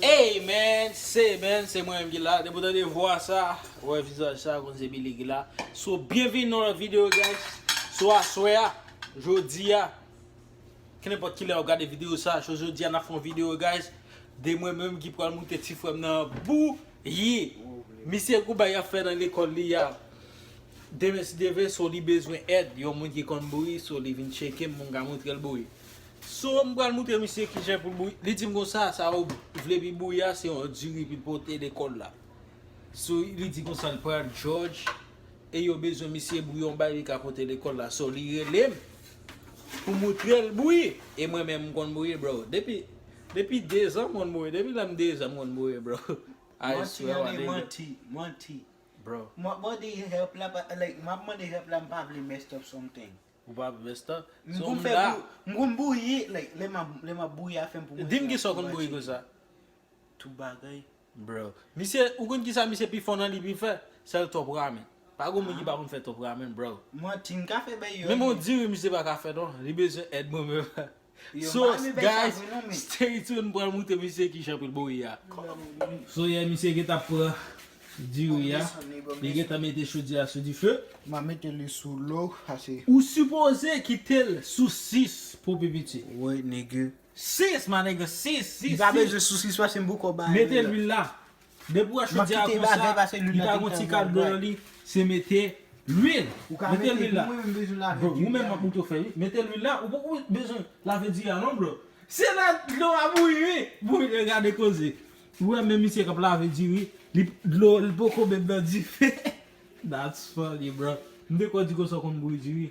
Hey man se man se mwen menm ki la depi w tande vwa sa ou wè vizaj sa ou konn se Billy ki la so byenvini nan yon lòt video guys so aswè a jodi a kenenpòt kilè wap gade video sa so jodi a nap fè yon video guys de mwen menm ki pral moute ti frè m nan bouyi misye gou bagay ap fè nan lekòl li a demen si Dye vle so li bezwen èd yon moun ki konn bouyi so li vin tcheke m mwen ka moutre l bouyi So m pral moutre misye kijan pou l bouyi. Li di m konsa, sa ou vle pi bouyi a se yon diri pou l pote lekòl la. So li di konsa l pral Jòj e yo bezwen misye bouyi yon bagay li ka pote lekòl la. So li rele m pou m moutre l bouyi. E mwen menm m konn bouyi bro. Depi depi dezan m konn bouyi. Depi lè m dezan m konn bouyi bro. I swear wa nigga. Manti an e manti. Manti. Bro. M ap mande help la pa like m ap mande help la m pa vle messed up something. Ou pa vesta. M konn fè bouyi. M konn bouyi like lè map lè map bouyi afèm pou mwen. Dim kisa ou konn bouyi konsa. Tout bagay. Bro. Misye ou konn kisa misye pi fò nan li pi fè? Sèl top ramen. Pa gon moun ki pa konn fè top ramen bro. Manti m ka fè bèy yo. Menm yon diri misye pa ka fè non. Li bezwen èd mwen menm. Sos guys stay tune pral moute misye ki jan pou l bouyi a. So yeah misye gentan ap pran diri a li gentan mete chodyè a sou dife. Map mete li sou lo pase. Ou sipoze kitel sou 6 pou pi piti. Woy nigga. 6 my nigga 6 6 6. Li pa bezwen sou 6 paske m poko bay lwil la. Mete lwil la. Depi wè chodyè a konsa, li pa gon ti kal blan nan li, se mete lwil. Mete lwil la. Ou menm map montre w fè wi. Mete lwil la, ou poko bezwen lave diri a non bro. Se lè dlo a bouyi wi pou w gade koze. Ou wè menm misye kap lave diri, dlo li poko menm nan dife. That's funny bro. M te kwè w di konsa w konn bouyi diri.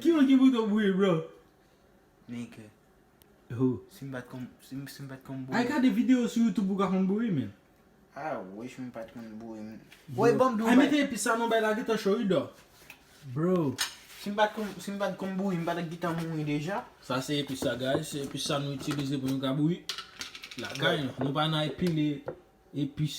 Ki moun ki pou to bouyi bro? Nigga. Who? Si m pat konn, si m pat konn bouyi. Al gade video sou youtube ou ka konn bouyi menn. I wish m pat konn bouyi m. Woy banm di w bagay. Al mete epis sa non bagay la gentan cho wi dò. Bro. Si m pat konn, si m pat konn bouyi m pa ta gentan mouri deja. Sa se epis la guys, se epis sa nou itilize pou nou ka bouyi lakay nou. Nou pa nan epile epis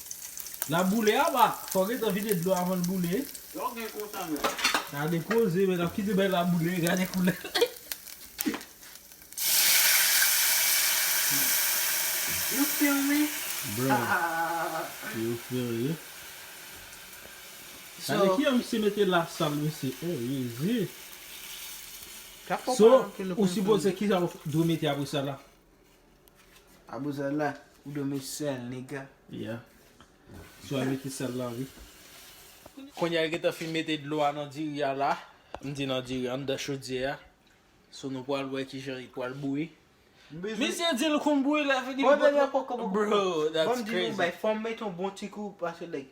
Lap boule aba fok gentan vide dlo avanl boule. Lòw gen kontan men. Gade koze men lap kite bay la boule gade koulè. You feel me? Bruh You feel me? Gade kijan misye mete la sal mesye oh jezi. So ou sipoze kijan ou dwe mete apresa la. Abou sèl la ou dwe met sèl nigga. Yeah. Sou a mete sèl la wi. Kounya yo gentan fin mete dlo a nan diri a la, m di nan diri anndan chodyè a, so nou pral wè kijan li pral bouyi. Misye di l konn bouyi lè fini l pot Bro that's crazy. Banm di nou yon bagay fòm met yon bon ti kou pase like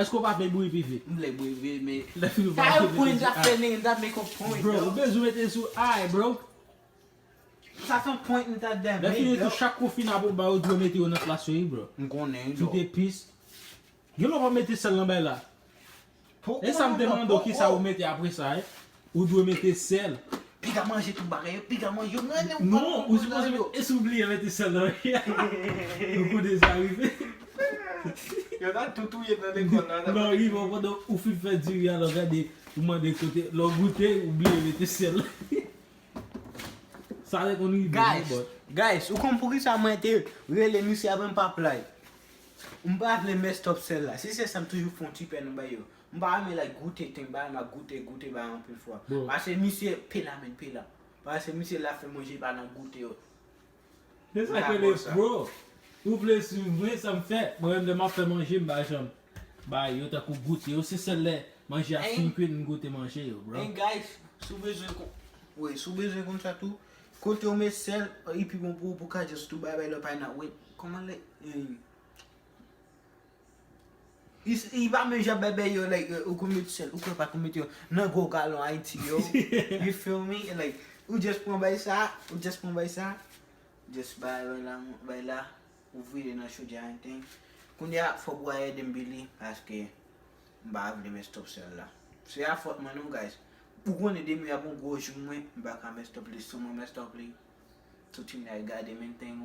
Eske ou pa vle bri pi vit? M vle bri pi vit men. Sa yo point lap fè nèg lap make a point. Bro ou bezwen mete sou I bro. Sa son point m tap dèm. Lè fini tou chak kou fina pou ba ou dwe mete yo nan plas yo wi bro. M konnen bro. Kite pis. Gen lè ou pa mete sèl nan bay la. Esam te mande ou kisa ou mete apresa e. Ou dwe mete sèl. Piga manje tout bagay yo, piga manje yo, mwen renmen ou pale pou mwen yo. E si w bliye mete sèl nan riz a? Yon kou deja rive. Yo ta tou touye nan lekòl la. Lè w rive pandan ou fin fè diri a lè w gade ou mande kote lè w goute ou bliye mete sèl. Sa te konn rive vre bòt. Guys, ou konn poukisa mwen te rele misye apre m pa play? M pa vle mès twòp sèl la. Si se sa m toujou fè yon ti pè nan bagay yo. M pa renmen lè goute ten bay ma goute goute bay anpil fwa pase misye pela men pela pase misye la fè manje pa nan goute yo Se sa ke le bro Ou vle swiv mwen sa m fè mwen menm lè map fè manje m pa janm bay yo tankou goute yo se sèl lè manje a fin kwit m goute manje yo bro And guys si w bezwen kon Wi si w bezwen konsa tou Kote yo met sèl li pi bon pou ou pou w ka just tou bay bay lòt pay nan wi Kòman lè Li pa menm jan bèbè yo like ou konn met sèl ou konn pa konn met yo nan gwo galon ayiti yo you feel me like ou just pran bay sa ou just pran bay sa just bay bay la bay la ou vire nan chodyè a anything kounye a fòk ou al ede m bili paske m pa vle mès twòp sèl la se a fòt mwen non guys ou konnen demen ap yon gwo jou mwen m pa ka mès twòp li sou mwen mès twòp li tout imn al gade m anything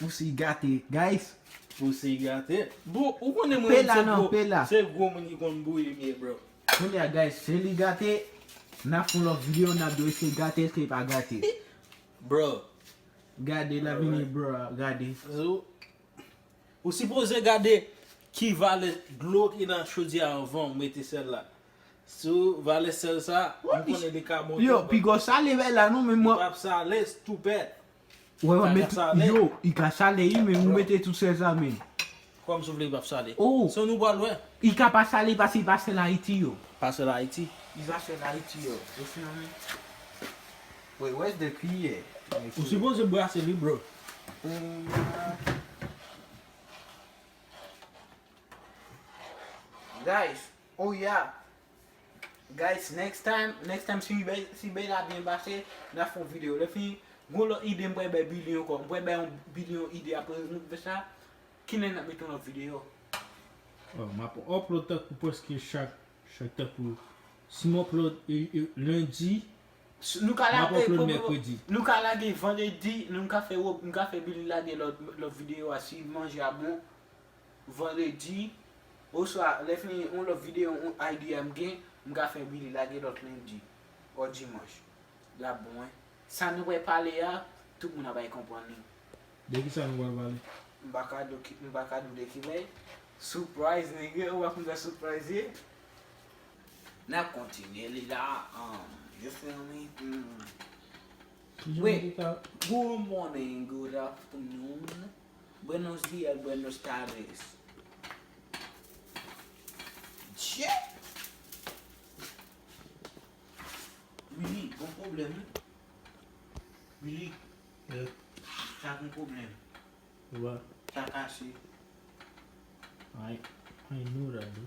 Pussy gate guys. Pussy gate. Bro ou konnen mwen menm se gwo se gwo moun ki konn bouyi m ye bro. Kounye a guys se li gate nap fon lòt video nap do eske gate eske li pa gate. Bro. Gade lap vini bro a gade. Ou sipoze gade ki valè dlo ki nan chodyè a anvan ou mete sèl la. Si ou valè sèl sa m konnen li ka bon. Yo pi gwo sale bay la non men mwen. Li pap sale stoupèd. Wè wap met yo i ka sale ui men ou mete tout sel sa men. Kòm sou vle li pap sale. Son nou pral wè. I ka pa sale pase i pa sel ayiti yo. Pa sel ayiti. I pa sel ayiti yo ou feel me. Wait where's the kiyè. Ou sipoze brase li bro. Guys oh yeah Guys next time next time si bèy si bèy la byen pase na fon video lè fini gon lòt ide m pral bay Billy ankò m pral bay yon Billy yon ide aprè nou fè sa kilè nap mete yon lòt video Bon map upload tankou prèske chak chak tankou si m upload lundi Nou ka map lage upload mercredi Nou ka lage vendredi nou ka fè nou ka fè Billy lage lòt lòt video a si manje a bon. vandredi oswa lè fè yon lòt videyo yon idea m gen m ka fè Billy lage lòt lendi or dimanche lap bon wi. Sa nou pral pale a tout moun ap bay konprann li. De kisa nou pral pale? M pa ka do m pa ka di w de ki lè. Surprise nigga ou pa konn sa surprise ye. Nap kontinye li la umm you feel me umm. Wi good morning good afternoon. Buenos dias, buenos tardes. Dye! Willy gon pwoblèm wi. Willy. Yes. Sa gon pwoblèm. What? Sa kase. I, I know that bro.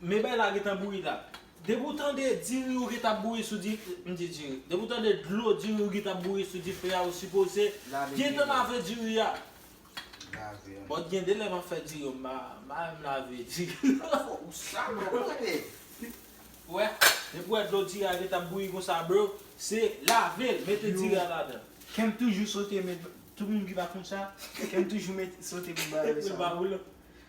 Men bay la gentan bouyi la. Depi ou tande diri ou gentan ap bouyi sou dife a, m di diri, depi ou tande dlo diri ou gentan ap bouyi sou dife a ou sipoze gentan lave diri a. Bon gen de lè map fè diri yo m pa menm lave diri a. Ou sal bro ou tande. Ou wè, depi ou wè dlo diri a gentan ap bouyi konsa bro, se lave l, mete diri a ladan. Kèm toujou sote men tout moun ki pa konn sa, kèm toujou met sote pou l ba yo sa.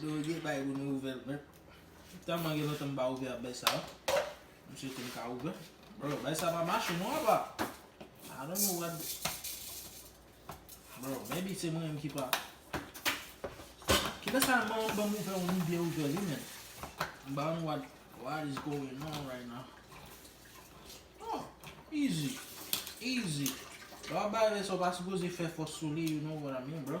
Doroge bay ou nou ouvèl nèt. Tèlman gen lontan m pa ouvè ak bèy sa yo. M swete m ka ouvè. Bro, bèy sa pa mache non apa. I don't know what Bro, maybe se mwen menm ki pa Kilè sa l mande m banm ouvè ou m byen ouvè li menn. M pa konn what what is going on right now. Oh, easy, easy. Lè w ap bay bèy sa w pa sipoze fè fòs sou li, you know what I mean bro.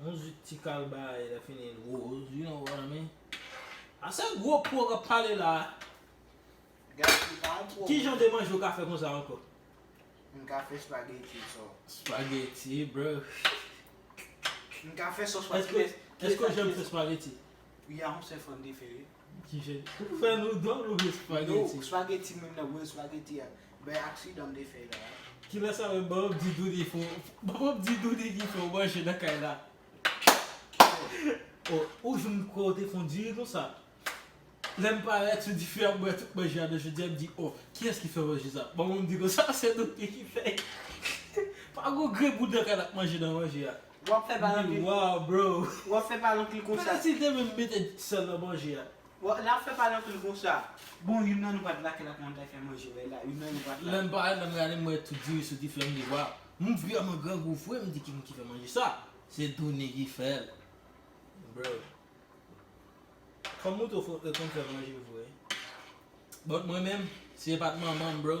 Yon zwit ti kalbare lè fini l woz you know what I mean A se gwo po kap pale la a Guys li pa gwo Ki jan de manje ou ka fè konsa ankò? M ka fè spaghetti so Spaghetti bruh M ka fè sos Èske w janm fè spaghetti? Ya m se fòn te fè wi Kijen ou fè nou dlo nou vle spageti. No spageti menm nan bwè spageti a bay aksidan m te fè la. Kilè sa menm banm di douni fò banm di douni ki fè w manje nan kay la. Kilè. Oh ou jwenn kouwè w te kondwi konsa. Lè m parèt sou dife a m wè tout manje a nan jodi a m di oh kiyès ki fè manje sa banm di konsa se douni ki fè. Pa gon grenn moun nan kay la k manje nan manje a. Wap fè pa lanky. Wow bro. Wap fè pa lanky konsa. Pale sil te menm mete sel nan manje a. Lap fè pa lanky konsa. Bon youn nan nou pat la kela kman ta fè manje wè la youn nan nou pat la. Lèm pale lèm gade m wè tout diri soti fèm di waw moun vrèman grangou vre m di ki moun ki fè manje sa se Doune ki fèl bro fanm ou tou fò konn fè manje vre but mwen menm si e pat manmanm bro.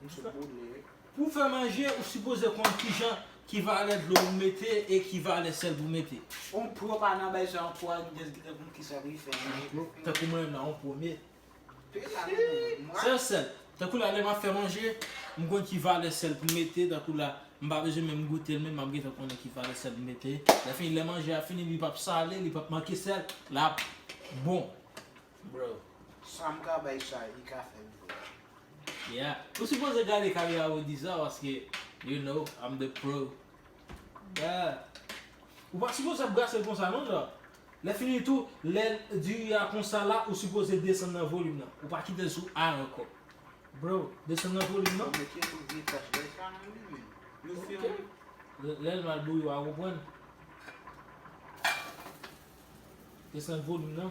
Pou w fè manje, ou sipoze konn kijan, ki valè dlo pou w mete e ki valè sèl pou w mete. On pro pa nan bay jan po ak gyèt ki te konn kijan pou li fè manje. Tankou mwen menm la, on pro me. Sèl sèl. Tankou la lè m ap fè manje, m konn ki valè sèl pou m mete, tankou la m pa bezwen menm goute l men m ap gentan konnen ki valè sèl pou m mete. Lè fini lè manje a fini li p ap sale, li p ap manke sèl, l ap bon. Sa m ka bay chay li ka fè l bon. Yeah ou sipoze gade kamera Roody sa paske you know I'm the pro yeah. Ou pa sipoze ap brasel konsa non Jha, lè fini tou lè diri a konsa la ou sipoze desann nan volim nan ou pa kitel sou high ankò bro desann nan volim nan ok lèl mal bouyi wa konprann desann volim nan.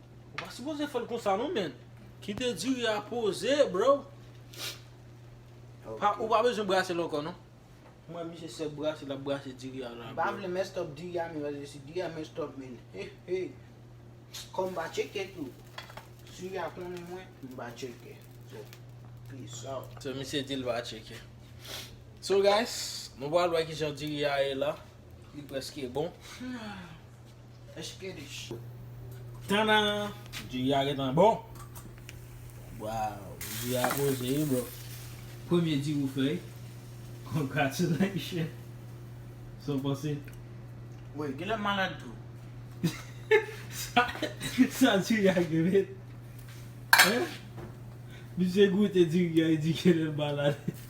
Ou pa sipoze fèl konsa non man. Kite diri a poze bro. Ou pa bezwen brasel ankò non. M wè misye sèl brase lap brase diri a la bro. M pa vle messed up diri a men paske si diri a messed up men hehey Kòm m pa tcheke tou Si a konnen mwen m pa tcheke So peace out. So misye di l pa tcheke. So guys nou pral wè kijan diri a ye la. Li preske bon. Eskidich. Tannan! Ji a gentan bon. Waw! Ji a poze wi bro. Premye ji ou fè wi. Congratulations! Sa w panse? Wi, genlè m malad tou. Sa ji a gen red. Misye goute diri a li di genlè l malad.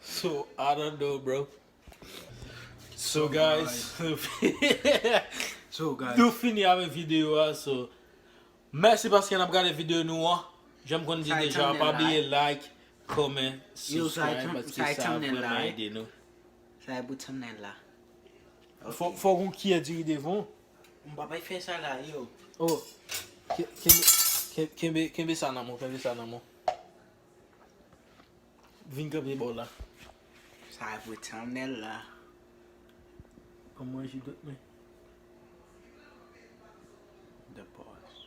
So I don't know bro So guys Nou fini avèk video a so Mèsi paske nap gade video nou an Janm konn di deja pa bliye like Comment Subscribe paske sa ap vreman ede nou Sa e bout thumbnail la Fòk yon kiyè diri devan w M pa bay fè sa la yo Oh Kenbe sa nan men w kenbe sa nan men w Vin kanpe bò la. Sa e pou thumbnail la. Banm manje dot mwen. The pause.